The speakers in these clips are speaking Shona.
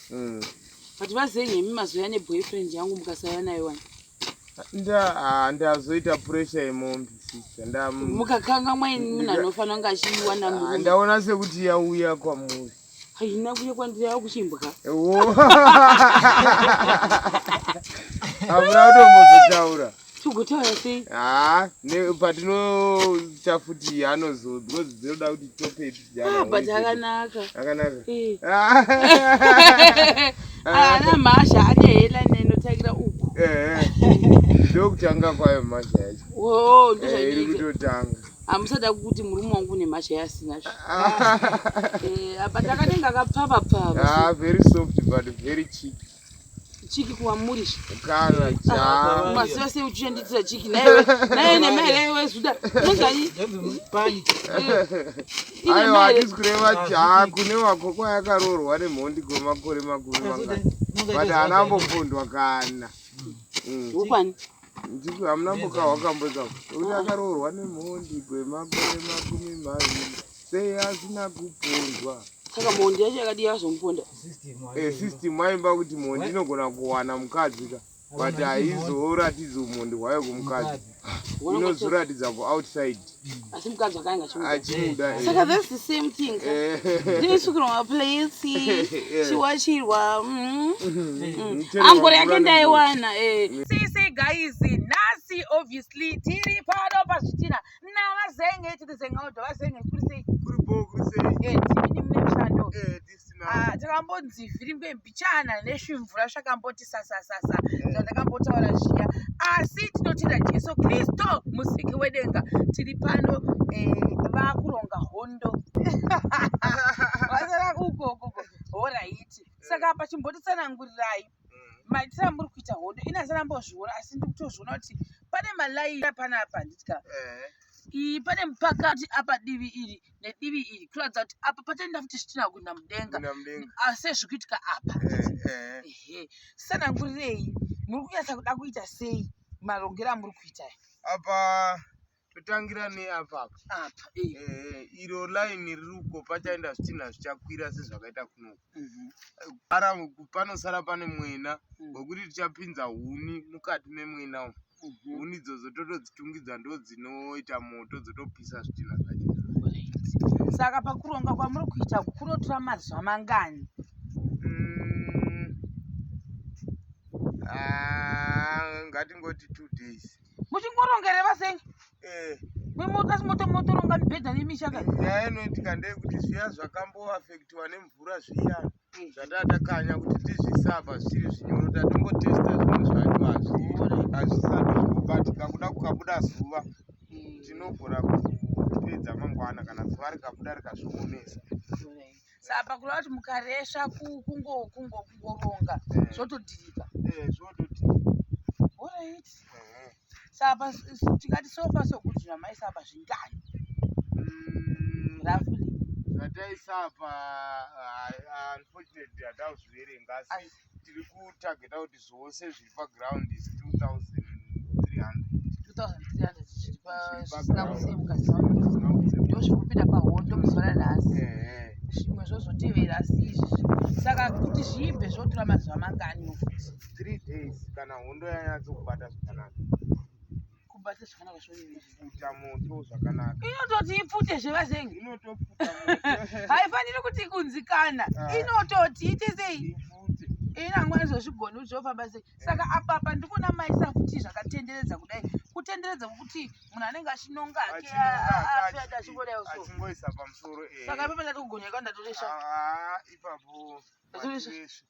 mm. but vazei nemi mazoya neboyfriend yangu mukasaya nayo wani ah, ndazoita pressure yemombe mukakanga mwaini munhu anofanira kunge achiiwana ah, ndaona sekuti yauya kwamuri haina kuya kwandiri yava kuchimbwa hamuna kutombozotaura togotaura sei haa patinocha futi anozo because dzinoda kuti tope ah, but akanaka akanaka eh. ah. ah, ana mhasha ane hela nenotangira uku eh, ndokutanga kwayo mhasha yacho oh, iri kutotanga hamusada kuti murume wangu une mhasha yaasina zvo but akanenge akapfava pfava very soft but very cheeky chiki kuwamuri kana cha basi basi uchenditira chiki naye naye ne mele yewe zuda muzanyi pani ayo hadisi kureva cha kune wako kwa yakarorwa ne mhondi go makore makumi mangani but ana mbofundwa kana mm. ukwani ndiko hamuna mboka wakamboza kuti akarorwa ne mhondi go makore makumi maviri sei asina kupondwa saka mhondi yacho yakadii azomuponda eh, system aimba kuti mhondi inogona kuwana mukadzi ka but haizoratidzi umhondi hwayo kumukadzi inozoratidza kuoutside asi mukadzi akainga achimuda eh. saka thats the same thing eh. ndinosukirwa maplace chiwachirwa mm. mm. angori yake ndaiwana sisi guys nhasi obviously tiri pano pazvitina navazenge tiri zengaudo vazenge kuri sei kuri bo kuri sei eh tibini mune mushando eh this now ah takambonzi virimbe mbichana neshimvura zvakamboti sasa sasa eh. zvandakambotaura zviya asi tinotenda Jesu Kristo musiki wedenga tiri pano eh vakuronga hondo vasara uko uko horaiti saka pachimbotisanangurirai maitire amuri kuita hondo ini asi ndambozviona asi ndiri kutozviona kuti pane malaini apanapa handiti ka eh. iyi pane mupakati apa divi iri nedivi iri kuratidza kuti apa patoenda futi zvitina kuenda mudenga ah, sezviri kuitika apa eh, eh. sanangurirei muri kunyatsa kuda kuita sei marongero amuri kuita apa totangira neapa apa apa eh. eh, iro line riri uko pachaenda zvitinha zvichakwira sezvakaita kunoko mhm. ara panosara pane mwena mm. wekuti tichapinza huni mukati memwena umu mhm. huni idzodzo totodzitungidza ndo dzinoita moto dzotopisa zvitinha zvacho saka pakuronga kwamuri kuita kunotora mazuva mangani mm. ah, ngatingoti two days muchingoronga here vasengi eh. asi motoronga mibhedha nemisha ka nyaya inoitika ndeyekuti zviya zvakamboafektiwa nemvura zviya eh. zvatatakanya kuti tizvisava zviri zvinyoro tatongotesta zvinhu zvacho hazvi hazvisati zvinobatika kuda kukabuda zuva eh. tinogona kupedza mangwana kana zuva rikabuda rikazviomesa saka pakureva kuti mukaresva kungoronga eh. zvotodhirika eh, orit eh. saka tikati sofa sokudira maisapa zvingani mm, rafuli zvataisapa ah, ah, unfortunately hatauzviverenga asi tiri kutargeta kuti zvose zviri paground is 2300zvisinakusemukazvozvikupinda pahondo muzuva ranhasi zvimwe zvozotevera asi izvi saka kuti zviibve zvotora mazuva mangani ofuti three days kana hondo yanyatsokubata zvakanaka kubata zvakanaka zvokuita moto zvakanaka inototi ipfute zvevazenge inotopfuta haifaniri kuti kunzikana ah. inototi ite sei inangwa izvozvigoni kuti zvofamba sei saka apapa ndikuona maisa kuti zvakatenderedza kudai kutenderedza kwokuti munhu anenge achinonga ake afiati achingodaiwo so saka ipapa ndatokugoneka ndatoresha ah, ah, ipapo ndatoresha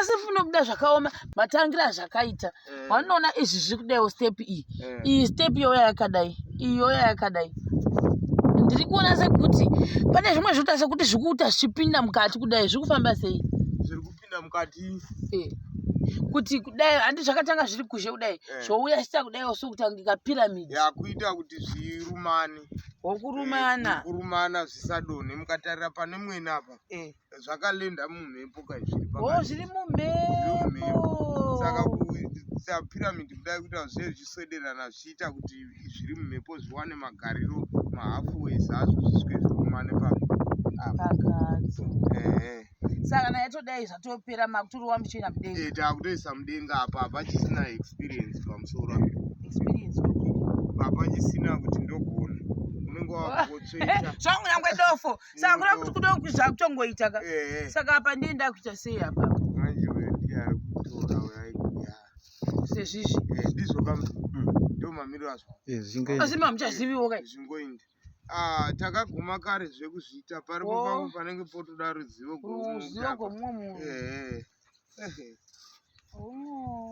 asi funa kuda zvakaoma matangira azvakaita eh. wanoona izvi zviri kudaiwo step iyi eh. iyi step yoya yakadai iyi yoya yakadai ndiri kuona sekuti pane zvimwe zvoita sekuti zviri kuita zvichipinda mukati kudai zviri kufamba sei zviri kupinda mukati eh. kuti kudai handi zvakatanga zviri kuzhe kudai zvouya chita kudaiwo sokutangika piramidi yakuita kuti zvirumane wokurumana kurumana zvisadonhe mukatarira pane mwena apa zvakalenda mumhepo ka zviri oh, pakati. Zviri mumhepo. Saka kuisa pyramid kudai kuti hazviye zvichiswederana zvichiita kuti zviri mumhepo zviwane magariro mahafu ways azvo zvisvike zvikumane pa pakati. Ehe. Saka naye todai zvatopera makutorowa muchienda mudenga. Eh, takutoisa mudenga apa apa chisina experience pamusoro. Experience. Papa chisina kuti ndogona. Unenge wakutsveta. Zvongu nyangwe dofo. saka kuda kuti kuda kuti zvakutongoita ka eh. saka apa ndiye ndakuita sei apa manje uyo ndiye ari kutora uyo aikuya sezvizvi eh, ndizvo kam mm. ndo mamiriro azvo eh, asi mamuchaziviwo kai zvingoindi ah, takaguma kare zvekuzviita paripo oh. pavo panenge potoda ruzivo ruzivo gwomumwe munhu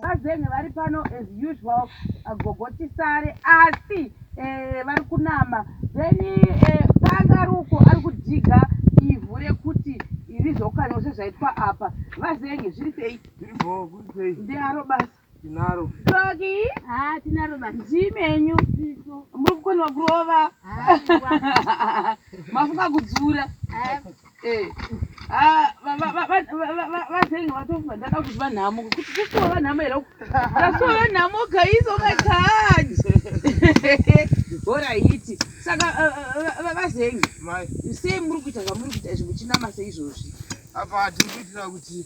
Vazenhe vari pano as usual agogo tisare asi eh, vari kunama then eh, paangaruko ari kudhiga ivhu rekuti rizokanywa sezvaitwa apa vazenhe zviri sei ndiharo basa Tinaro. Toki. Ah, tinaro ba. Zimenyu. Muri kukona kurova. Ah, Mafuka kudzura. Ah. Eh. Ah, baba baba baba vazengi vatofa ndaka kuti vanhamo kuti kusuwa vanhamo here uku. Kusuwa vanhamo kaizo makaji. Bora hiti. Saka vazengi. Eh, eh, eh, Mai. Sei muri kuita zvamuri kuita izvi muchinama seizvozvi? Apa tiri kuitira kuti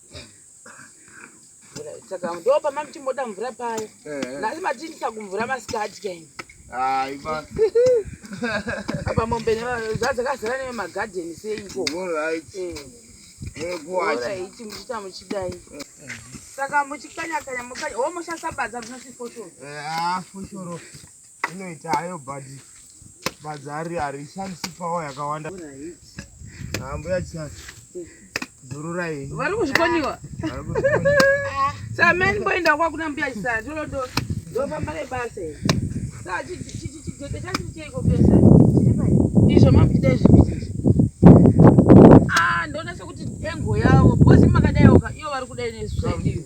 saka ndo pamamchimboda mvura paya nhasi matiinisa kumvura masikati kaini aiva apa mombe zvadzakazara neve magadheni seiko ekuwaiti muchita muchidai saka muchikanyakanya mukanya wo mushasabaza munosi foshoro foshoro inoita hayo but badzi hari harishandisi pawa yakawanda ambuya chati zururai vari kuzvikoniwa sameni mboenda kwakuna mbuya chisati olodo ndofamba nebasa sa chidheke chachiri cheiko pesa izvo makuchita izvii ah, ndoona sekuti engo yavo bhozi makadaiwoka iyo vari kudai nezvii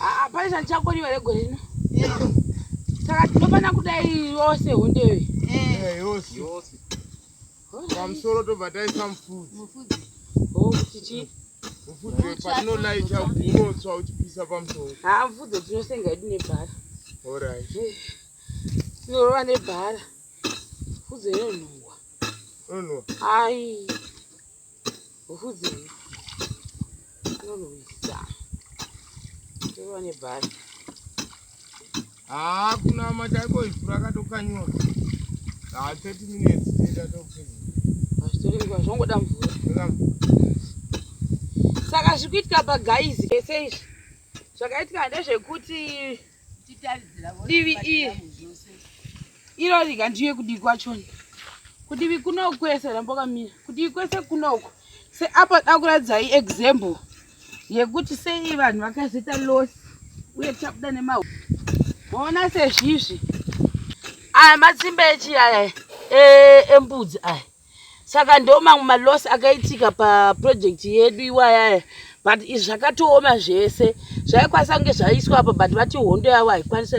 Ah, pane chandichakoniwa here gore rino saka tinofanira kudai yose hondewe eh, yose pamusoro tobva taisa mufudzi oh, kuti chii mufudzi wepatinolaita unotswa uchipisa pamusoro haa ah, mufudzi tinosenga yedu nebhara orit tinorova eh, nebhara mufudzi inonhuwa inonhuwa ai Ufudzei. Unonwisa. Tova nebhari. Haa kuna matako ifu rakatokanyiwa. Haa 30 minutes tenda tokupedza. Hazvitori nguva zvongoda mvura. Tenda mvura. Saka zvikuitika pagaizi. Ese izvi. Zvakaitika ndezvekuti divi iri iro rega ndiye kudivi kwachona kudivi kunoku kwese rambokamira kudivi kwese kunoku seapa da kuratidzai example yekuti sei vanhu vakazoita loss uye tichabuda nema ona sezvizvi aya matsimba echiaya eh, embudzi aya saka ndo mamwe maloss akaitika paproject yedu iwayaya but izvi zvakatooma zvese zvaikwanisa kunge zvaiswa apa but vati hondo yavo haikwanisa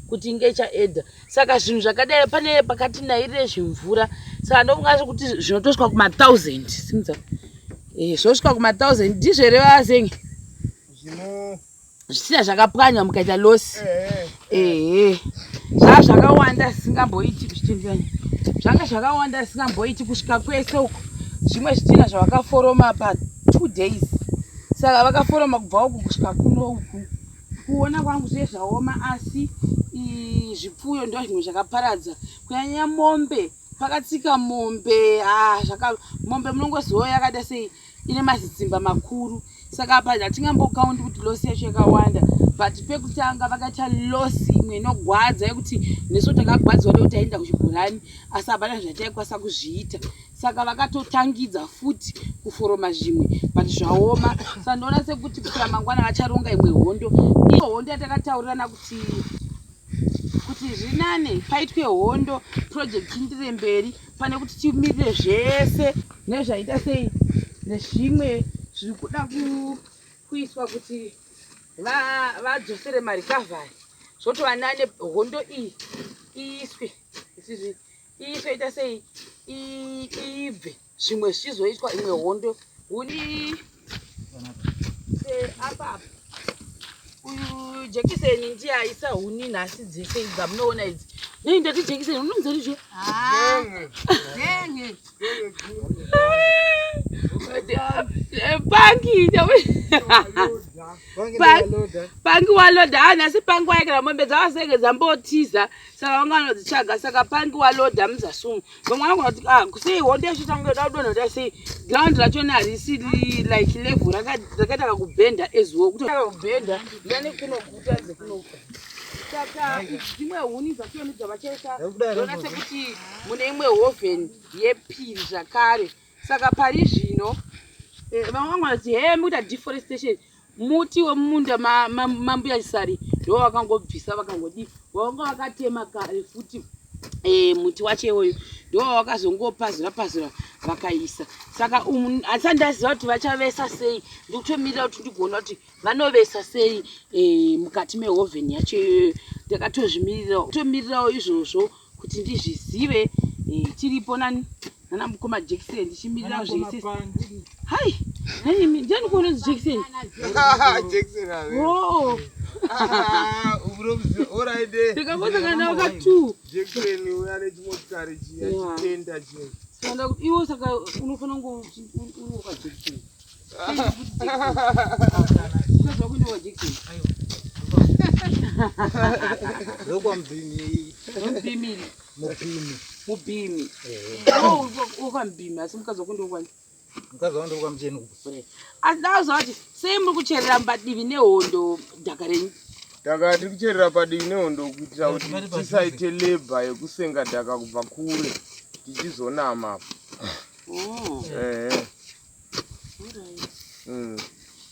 kuti inge ichaedha saka zvinhu zvakadai pane pakati nairire zvimvura saka ndokungaso kuti zvinotosvika kumathousand simudza eh, zvosvika kumathousand ndizvo here vazenge zvino zvichida zvakapwanywa mukaita losi ehe zvaa zvakawanda zvisingamboiti zvichitendani zvanga zvakawanda zvisingamboiti kusvika kwese uko zvimwe zvichina zvavakaforoma pa two days saka vakaforoma kubva uku kusvika kuno uku kuona kwangu zviye zvaoma asi zvipfuyo ndo zvimwe zvakaparadza kunyanya mombe pakatsika mombe ah, mombe munongoziva yakada sei ine mazitsimba makuru saka apa hatingambokaundi kuti losi yacho yakawanda but pekutanga vakaita losi imwe inogwadza yekuti nesu takagwadzwa nekuti taienda kuchibhorani asi hapana zvataikwanisa kuzviita saka vakatotangidza futi kuforoma zvimwe but zvaoma saka ndoona sekuti kusvira mangwana vacharonga imwe hondo iyo hondo yatakataurirana kuti kuti zvinane paitwe hondo project indire mberi pane kuti timirire zvese nezvaita sei nezvimwe zviri kuda kuiswa kuti vadzosere marikavhari zvotova nane hondo iyi iiswe ichizvi iiswe ita sei iibve zvimwe zvichizoitwa imwe hondo huni Eh, apa uyu jekiseni ndiye aisa huni nhasi dzese idzi dzamunoona idzi nei ndati jekiseni unomuza ndizvo ah, eh, pangi pangi waloda ha ah, nhasi pangi waekera mombe dzavasenge dzambotiza saka vanga vanodzitsvaga saka pangi waloda muzasumu vamwe vangu vati ah sei honde yacho tanga yoda kudonha kuda sei ground racho ne harisi like level rakaita kakubhenda as well kuti kakubhenda ndane kunoguta dzekunofa saka dzimwe huni dzatoni dzavachaita dona sekuti mune imwe hoven yepiri zvakare saka pari zvino eh, vamwe vangu vati he mukuita deforestation Muti wemumunda mambuya Chisari ndiwo wakangobvisa vakangodii wavanga wakatema kare futi e, muti wacho iwoyo ndiwo wavakazongopazura pazura vakaisa saka um, asati ndaziva kuti vachavesa sei ndikutomirira kuti ndigona kuti vanovesa sei e, mukati mehovheni yacho iyoyo ndakatozvimirirawo kutomirirawo izvozvo kuti ndizvizive eh, tiripo nani nana mukoma jekiseni ndichimirira zvese hai nanyimi ndiani kuona jekiseni ndikakoza kana waka two iwo saka unofanira kunge unoka jekiseni asindauzati sei muri kucherera mbadivi nehondo dhaka renyu dhaka tiri kucherera padivi nehondo kuitira kuti tisaite lebha yekusenga dhaka kubva kure tichizonama oh. ehe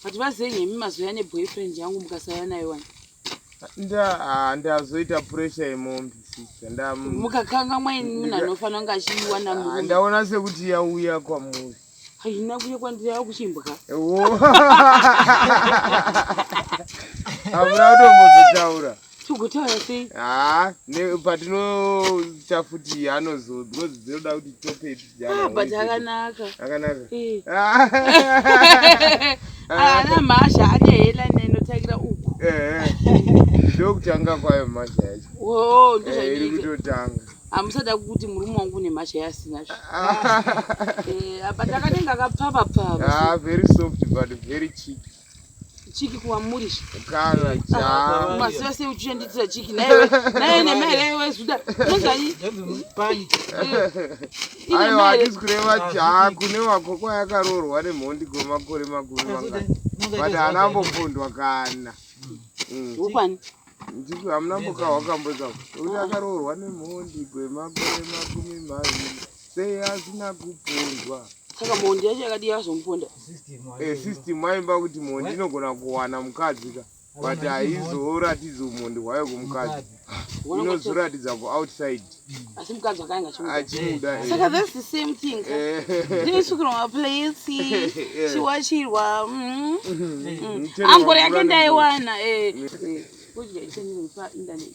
but vazei nemi mazoya neboyfriend yangu mukasaya nayo wani ndazoita ah, pressure yemombe mukakanga mwaini munhu anofanira kunge achiiwana ah, ndaona sekuti yauya kwamuri haina kuya kwandiri yava kuchimbwa hamuna kutombozotaura Tugutaura sei? Ah, ne patinoita futi anozo because dzinoda kuti tope Ah, but akanaka. Akanaka. Eh. Ah. Ah, na masha ane hela neno tagira uku. Eh. eh. Ndokutanga kwayo masha yacho. Oh, ndozvaita. Eh, iri kutotanga. hamusada kuti murume wangu une mhasha yasina zvo ah. eh, but akanenge akapfava pfava ah, very soft but very cheap chiki kuwamuri masi ah, ose uchishanditira chiki naye nemari yayo waizoda aiwa hatisi kureva jaa kune wako kwayakarorwa nemhondi kwemakore makumi mangani but haana ambopondwa kana mm. ukwani ndiko hamuna mboka wakamboza kuti akaroorwa nemhondi kwemakore makumi maviri Sei asina kupondwa? Saka mhondi yacho yakadii azomuponda? Eh, system aimba kuti mhondi inogona kuwana mukadzi ka but haizoratidzi umhondi hwayo kumukadzi inozoratidza kuoutside asi mukadzi akainga achimuda eh. saka that's the same thing eh. ndinosukirwa maplace eh. chiwachirwa mm-hmm. mm-hmm. angore yake ndaiwana kudya ichenipa internet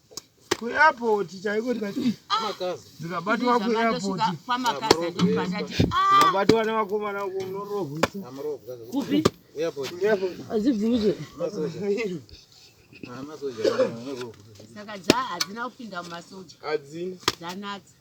kuairport chaiko ndikabatwa kuairportikabatwa ah! nevakomana uko munorohwezibvuze saka dza hadzina kupinda mumasoja dzanatsa